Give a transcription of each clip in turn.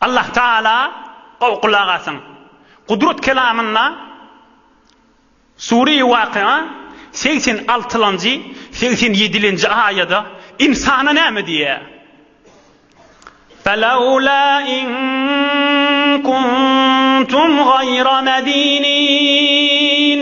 Allah Taala gowy gulak asyň. Gudrat kelamynda Sure-i Wakia segsen altylanjy, segsen ýedilenji aýada ynsana näme diýýär? Felawla in kuntum gaýra medinin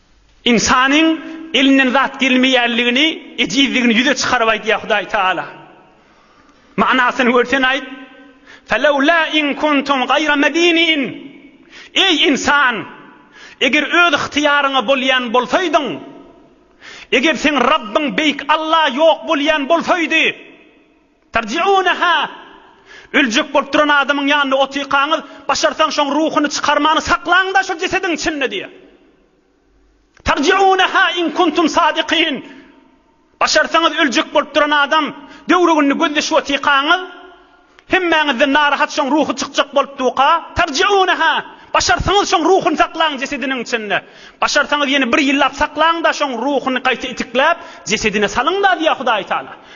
Ynsanyň elinden zat gelmeýänligini, ejizligini ýüze çykaryp aýdýar Hudaý Tagala. Manysyny görsen aýt, Felewlâ in kuntum gaýra medinin, Eý, ynsan! Eger öz ygtyýaryňa bolýan bolsaýdyň, eger seň Rabbyň Beýik Alla ýok bolýan bolsaýdy, Tarji'uneha, Öljek bolup duran adamyň ýanynda otykaňyz, başarsaň şoň ruhuny çykarmany saklaň-da şol jesediň içinde diýýär. Tarji'uneha in kuntum sadikin, Başarsaňyz öljek bolup duran adam, döwrügini gözleşip otykaňyz, hemmäňizden narahat şoň ruhy çykjak bolup duka, tarji'uneha, Başarsaňyz şoň ruhuny saklaň jesediniň içinde. Başarsaňyz ýene bir ýyllap saklaň-da şoň ruhuny gaýta itikläp, jesedine salyň-da diýýär Hudaýy Taala.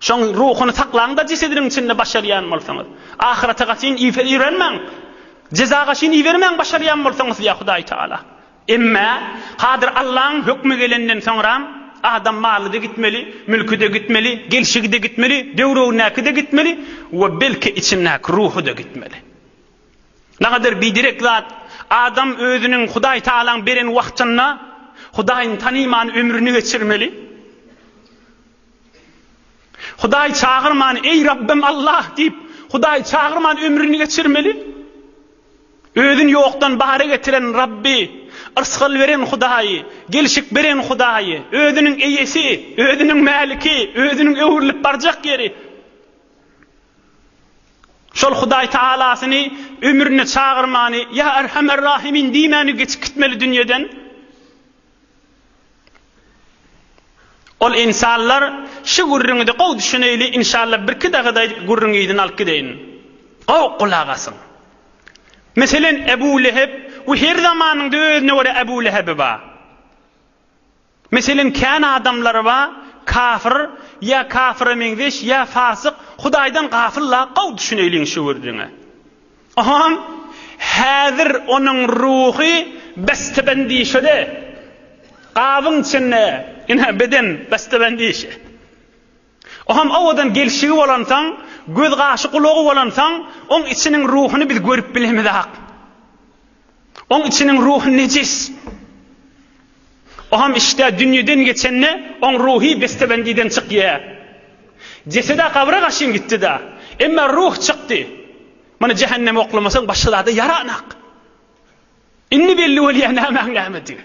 Şoň ruhuny saklaň-da jesediniň içinde başarýan bolsaňyz. Ahyrata gaçyn iberenmäň. Jeza gaçyn ibermäň başarýan bolsaňyz diýýär Hudaý Tagala. Emme, hadyr Allaň hökmi gelenden soňram, adam maly-da gitmeli, mülki-de gitmeli, gelşigi-de gitmeli, döwrebindäki-de gitmeli we belki içindäki ruhy-da gitmeli. Nagadyr biderek zat, adam özüniň Hudaý Tagalaň beren wagtynda Hudaýyny tanyman ömrüni geçirmeli. Hudaý çagyrman, Eý Rabbym Allah! diýip, Hudaý çagyrman ömrüni geçirmeli. Özüni ýokdan bara getiren Rabby, yrsgal beren Hudaýy, gelşik beren Hudaýy, özüniň eýesi, özüniň mäliki, özüniň öwrülip barjak ýeri. Şol Hudaý Tagalasyny ömrüne çagyrmany, Ýa Erhamer Rahimin diýmäni geçip gitmeli dünýeden. Ol insanlar şu gürrüňide gowy düşüneýli inşalla birki dagada gürrüňi yzyn alyp gideýin. Gowy gulak asyň. Meselen Ebu Lehep we her zamanyňda özüne görä Ebu Lehebi ba. Meselen kän adamlary ba kafyr ýa kafyra meňzeş ýa fasyk Hudaýdan gafyl la gowy düşüneýliň şu gürrüňe. Ohoň, häzir onuň ruhy besdebendişede, gabyň içinde ine beden besdebendişe. Ohoň owadan gelşigi bolansoň, göz-gaşy-gulagy bolansoň, oň içiniň ruhuny biz görüp bilemizak. Oň içiniň ruhy nejis. Oňam işdä dünýeden geçende oň ruhy besdebendiden çykýa. Jeseda gabra garşyn gitdida, emma ruh çykdy. Muny jähenneme oklamasaň başga zada ýaranak. Indi belli bolýa nämäň nämedigini.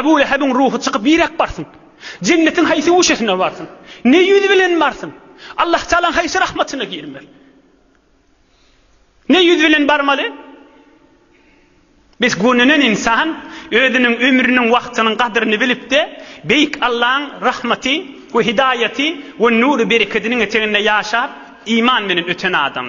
Ebu Lehebiň ruhy çykyp niräk barsyn? Jennetiň haýsy guşesine barsyn? Ne ýüz bilen barsyn? Allahutalaň haýsy rahmatyna girmeli? Ne ýüz bilen barmaly? Biz gönenen ynsan özüniň ömrüniň wagtynyň gadyryny bilipde Beýik Allaň rahmaty we hidaýaty we nury berekediniň eteginde ýaşap iman bilen öten adam.